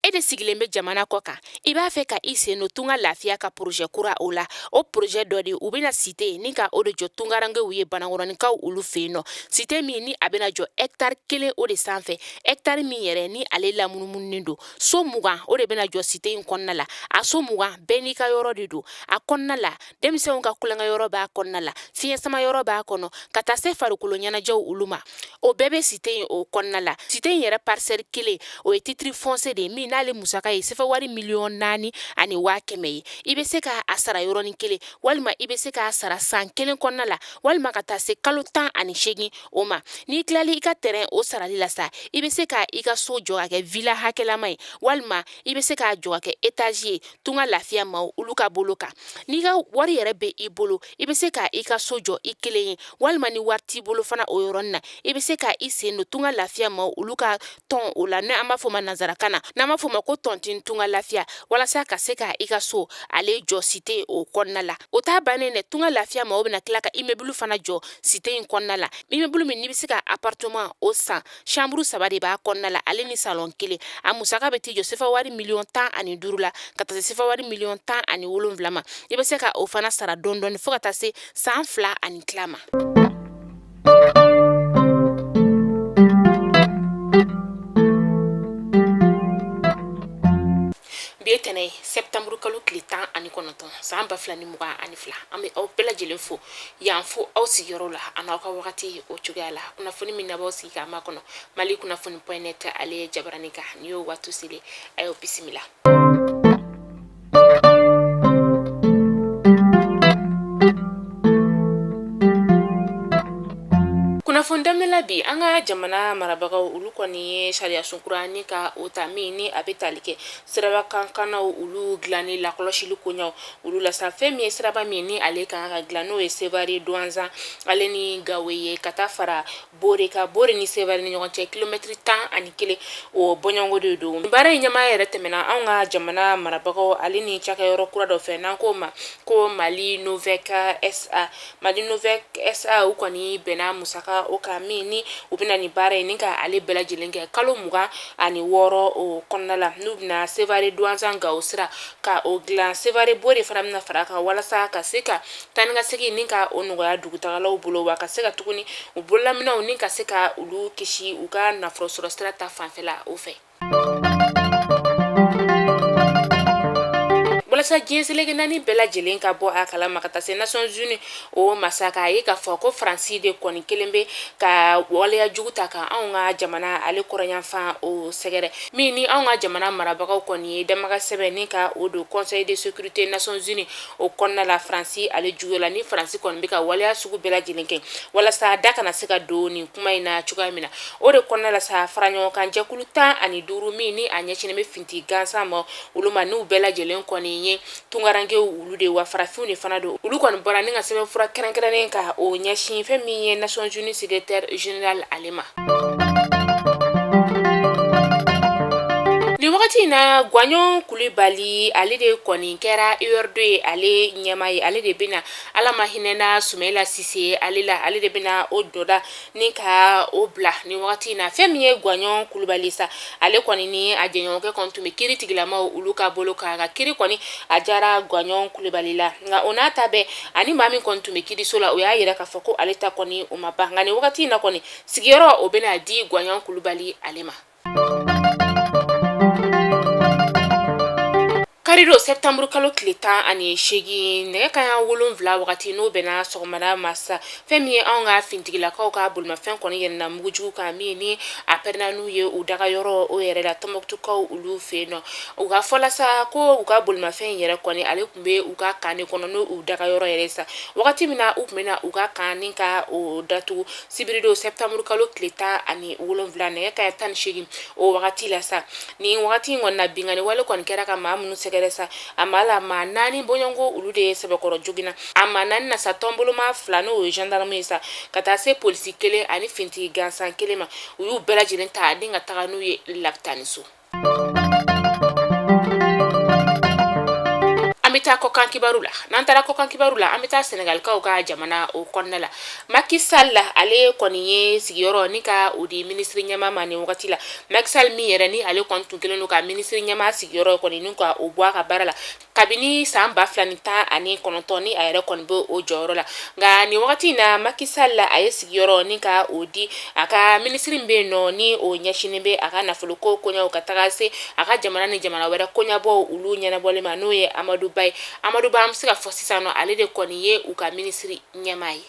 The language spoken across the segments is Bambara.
e de sigilen bɛ jamana kɔ kan i b'a fɛ ka i sen don tunga lafiya ka porozɛ kura o la o porozɛ dɔ de u bɛna site ni ka o de jɔ tungarankew ye banakɔrɔninkaw olu fɛ yen nɔ site min ni a bɛna jɔ ɛktari kelen o de sanfɛ ɛktari min yɛrɛ ni ale lamunumununen don so mugan o de bɛna jɔ site in kɔnɔna la a so mugan bɛɛ n'i ka yɔrɔ de don a kɔnɔna la denmisɛnw ka tulonkɛyɔrɔ b'a kɔnɔna la fiɲɛ sama yɔrɔ b'a kɔnɔ ka taa se farikolo ɲɛnajɛw olu ma o bɛɛ bɛ site in o kɔnɔna la site in yɛrɛ parisɛli kelen o ye titiri fɔnse de ye min n'ale musaka ye sɛfɛ wari miliyɔn naani ani waa kɛmɛ ye i bɛ se ka a sara yɔrɔnin kelen walima i bɛ se k'a sara san kelen kɔnɔna la walima ka taa se kalo tan ani seegin o ma n'i tilali i ka tɛrɛn o sarali la sa i bɛ se ka i ka so jɔ ka kɛ vila hakɛlama ye walima i bɛ se k'a jɔ ka kɛ etazi ye tunga lafiya maaw olu ka bolo kan n'i ka wari yɛrɛ bɛ i bolo i bɛ se ka i ka so jɔ i kelen ye walima ni wari t'i bolo fana o yɔrɔnin na i bɛ se ka i sen don tunga lafiya maaw olu ka tɔn o la n'an b'a fɔ ma nanzarakan na n'an b'a fɔ ma ko tɔntin tunga lafiya walasa ka se ka i ka so ale jɔ site o kɔnɔna la o t'a bannen dɛ tunga lafiya maaw bɛna tila ka imebulu fana jɔ site in kɔnɔna la imebulu min n'i bɛ se ka aparteman o san Chambre saba de b'a kɔnɔna la ale ni salon kelen a musaka bɛ t'i jɔ sefa wari miliyɔn tan ani duuru la ka taa se sefa wari miliyɔn tan ani wolonfila ma i bɛ se ka o fana sara dɔɔni dɔɔni fo ka taa se san fila ani tila ma. bi ye tɛnɛ ye septembre kalo tile tan ani kɔnɔntɔn san ba fila ni mugan ani fila an bɛ aw bɛɛ lajɛlen fo yan fo aw sigiyɔrɔ la an'aw ka wagati o cogoya la kunnafoni min n'aw b'aw sigi k'a makɔnɔ mali kunnafoni point net ale ye jabarani kan nin y'o waati selen a y'aw bisimila kunnafoni daminɛla bi an ka jamana marabagaw olu kɔni ye sariya sun kura ni ka o ta min ni a bɛ tali kɛ siraba kankanaw olu dilanni lakɔlɔsili koɲaw olu la sa fɛn min ye siraba min ni ale ka kan ka dilan n'o ye sevare duwanzan ale ni gawo ye ka taa fara bore kan bore ni sevare ni ɲɔgɔn cɛ kilomɛtiri tan ani kelen o bɔɲɔgɔnko de don baara in ɲɛmaa yɛrɛ tɛmɛna anw ka jamana marabagaw ale ni cakɛyɔrɔ kura dɔ fɛ n'an k'o ma ko mali novec sa Mali Novec SA u kɔni bɛnna musaka o kan min ni u bɛna nin baara ye ni ka ale bɛɛ lajɛlen kɛ kalo mugan ani wɔɔrɔ o kɔnɔna la n'u bɛna Sevare Duwanzan Gawo sira ka o dilan Sevare Bore fana bɛna fara a kan walasa ka se ka taa ni ka segin ni ka o nɔgɔya dugutagalaw bolo wa ka se ka tuguni u bololaminɛnw ni ka se ka olu kisi u ka nafolo sɔrɔ sira ta fanfɛla o fɛ. walasa diɲɛ seleke naani bɛɛ lajɛlen ka bɔ a kalama ka taa se nations unies o ma sa k'a ye k'a fɔ ko faransi de kɔni kɛlen bɛ ka waleya jugu ta ka anw ka jamana ale kɔrɔnyanfan o sɛgɛrɛ min ni anw ka jamana marabagaw kɔni ye damakasi sɛbɛn ni ka o don conseil de sécurité nations unies o kɔnɔna la faransi ale juguya la ni faransi kɔni bɛ ka waleya sugu bɛɛ lajɛlen kɛ walasa da kana se ka don nin kuma in na cogoya min na o de kɔnɔna la sa faraɲɔgɔnkan jɛkulu tan ani duuru min ni a ɲɛsinnen bɛ fintigi gansan ma olu ma n'u bɛɛ lajɛlen kɔni ye tunkarankew olu de wa farafinw de fana don olu kɔni bɔra ni ka sɛbɛn fura kɛrɛnkɛrɛnnen ka o ɲɛsin fɛn min ye nations unies secrétaire général ale i ma nin wagati in na gwaɲɔn kulubali ale de kɔni kɛra URD o ye ale ɲɛmaa ye ale de bɛna ala ma hinɛna sumayila sise ale la ale de bɛna o dɔda ni ka o bila nin wagati in na fɛn min ye gwaɲɔn kulubali sa ale kɔni ni a jɛɲɔgɔnkɛ kɔni tun bɛ kiritigɛlamaw olu ka bolo kan nka kiri kɔni a diyara gwaɲɔn kulubali la nka o n'a ta bɛɛ a ni maa min kɔni tun bɛ kiriso la o y'a jira k'a fɔ ko ale ta kɔni o ma ban nka nin wagati in na kɔni sigiyɔrɔ o bɛna di gwaɲɔn kulubali ale ma karidon sɛtanburu kalo tile tan ani seegin nɛgɛ kanɲɛ wolonwula wagati n'o bɛnna sɔgɔmada ma sa fɛn min ye anw ka fintigilakaw ka bolimafɛn kɔni yɛlɛna mugujugu kan min ni a pɛrɛnna n'u ye u dagayɔrɔ o yɛrɛ la tɔnbɔkutukaw olu fɛ yen nɔ u ka fɔ la sa ko u ka bolimafɛn in yɛrɛ kɔni ale tun bɛ u ka kan de kɔnɔ n'o u dagayɔrɔ yɛrɛ sa wagati min na u tun bɛna u ka kan ni ka o datugu sibiridon sɛtanburu kalo tile tan ani wolonwula nɛgɛ kanɲɛ tan ni seegin o wagati la sa nin wagati in kɔni na binkanni wale kɔni kɛra ka maa minnu sɛgɛrɛ sa a ma la maa naani bɔɲɔgɔnko olu de ye sɛbɛkɔrɔ joginna a maa naani na sa tɔnboloma fila n'o ye gendarme ye sa ka taa se polisi kelen ani fintigi gansan kelen ma u y'u bɛɛ lajɛlen ta ni ka taga n'u ye lapitani so An bɛ taa kɔkan kibaru la n'an taara kɔkan kibaru la an bɛ taa sɛnɛgalikaw ka jamana o kɔnɔna la Maki Sall ale kɔni ye sigiyɔrɔ ni ka o di minisiri ɲɛmaa ma nin wagati la Maki Sall min yɛrɛ ni ale kɔni tun kɛlen don ka minisiri ɲɛmaa sigiyɔrɔ kɔni ni ka o bɔ a ka baara la kabini san ba fila ni tan ani kɔnɔntɔn ni a yɛrɛ kɔni bɛ o jɔyɔrɔ la nka nin wagati in na Maki Sall a ye sigiyɔrɔ ni ka o di a ka minisiri min bɛ yen nɔ ni o ɲɛsinnen bɛ a ka nafolo ko koɲɛw ka taga se a ka jamana ni jamana wɛrɛ koɲɛbɔw olu ɲɛnabɔli ma n'o ye amadu ba ye amadu ba an bɛ se ka fɔ sisan nɔ ale de kɔni ye u ka minisiri ɲɛmaa ye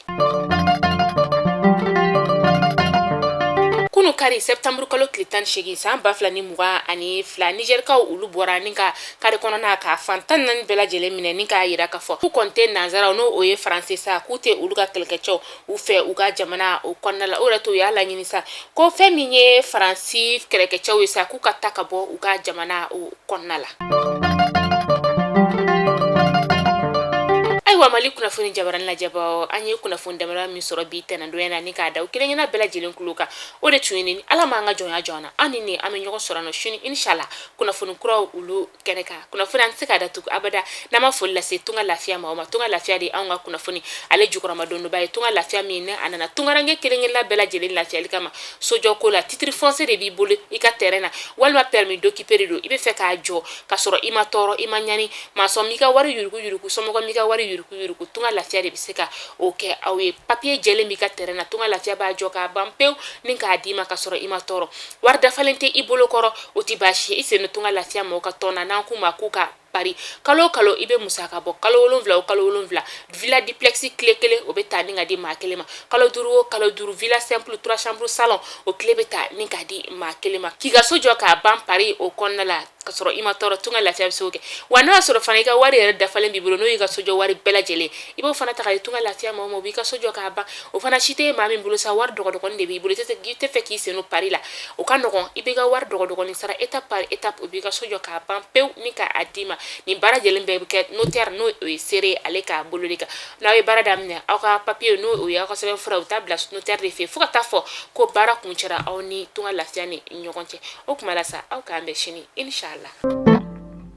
kunun kari septembre kalo tile tan segin san ba fila ni mugan ani fila nizɛrikaw olu bɔra ni ka kari kɔnɔna ka fan tan naani bɛɛ lajɛlen minɛ ni k'a yira k'a fɔ k'u kɔni tɛ nanzaraw n'o o ye faransɛ sa k'u tɛ olu ka kɛlɛkɛcɛw u fɛ u ka jamana o kɔnɔna la o yɛrɛ to u y'a laɲini sa ko fɛn min ye faransi kɛlɛkɛcɛw ye sa k'u ka taa ka bɔ u ka jamana o kɔnɔna la ayiwa mali kunnafoni jabaranin lajɛbaaw an ye kunnafoni damara min sɔrɔ bi tɛnɛndonya na ni k'a da aw kelenkelenna bɛɛ lajɛlen kulo kan o de tun ye nin ni ala m'an ka jɔnya jɔn na an ni nin an bɛ ɲɔgɔn sɔrɔ nɔ sini inshala kunnafoni kuraw olu kɛnɛ kan kunnafoni an tɛ se k'a datugu abada n'an ma foli lase tunga lafiya ma o ma tunga lafiya de anw ka kunnafoni ale jukɔrɔmadondonbaa ye tunga lafiya min n'a nana tungaranke kelenkelenna bɛɛ lajɛlen lafiyali kama sojɔ ko la titre foncier de b'i bolo i ka tɛrɛn na walima permis d'occuper de don i bɛ fɛ k'a jɔ ka sɔrɔ i ma tɔɔrɔ i ma ɲani masɔn m'i ka wari yuruku yuruku somɔgɔ m'i ka wari yuruku yuruku tunga lafiya de bɛ se ka o kɛ aw ye papiye jɛlen b'i ka tɛrɛn na tunga lafiya b'a jɔ k'a ban pewu ni k'a d'i ma ka sɔrɔ i ma tɔɔrɔ wari dafalen tɛ i bolo kɔrɔ o tɛ baasi ye i sen don tunga lafiya mɔgɔw ka tɔn na n'an k'o ma k'u ka pari kalo o kalo i bɛ musaka bɔ kalo wolonwula o kalo wolonwula villa duplex kile kelen o bɛ ta ni k'a di maa kelen ma kalo duuru o kalo duuru villa simple trois chambres salon o kile bɛ ta ni k'a di maa kelen ma k'i ka so jɔ k'a ban pari o kɔnɔna la ka sɔrɔ i ma tɔɔrɔ tunga lafiya bɛ se k'o kɛ wa n'o y'a sɔrɔ fana i ka wari yɛrɛ dafalen b'i bolo n'o y'i ka sojɔ wari bɛɛ lajɛlen i b'o fana ta k'a di tunga lafiya ma o b'i ka so jɔ k'a ban o fana si tɛ maa min bolo sa wari dɔgɔdɔgɔnin de b'i bolo i tɛ fɛ k'i sen don pari la o ka nɔgɔn i b'i ka wari dɔgɔdɔgɔnin sara étape par étape o b'i ka so jɔ k'a ban pewu ni k'a d'i ma nin baara lajɛlen bɛɛ bɛ kɛ notaire n'o ye seere ale ka bolo de kan n'aw ye baara daminɛ aw ka papiye n'o o ye aw ka sɛbɛn fura u taa bila notaire fɛ fo ka taa fɔ ko baara kuncɛra aw ni tunga lafiya ni ɲɔgɔn cɛ o kuma la sa aw k'an bɛn sini inshala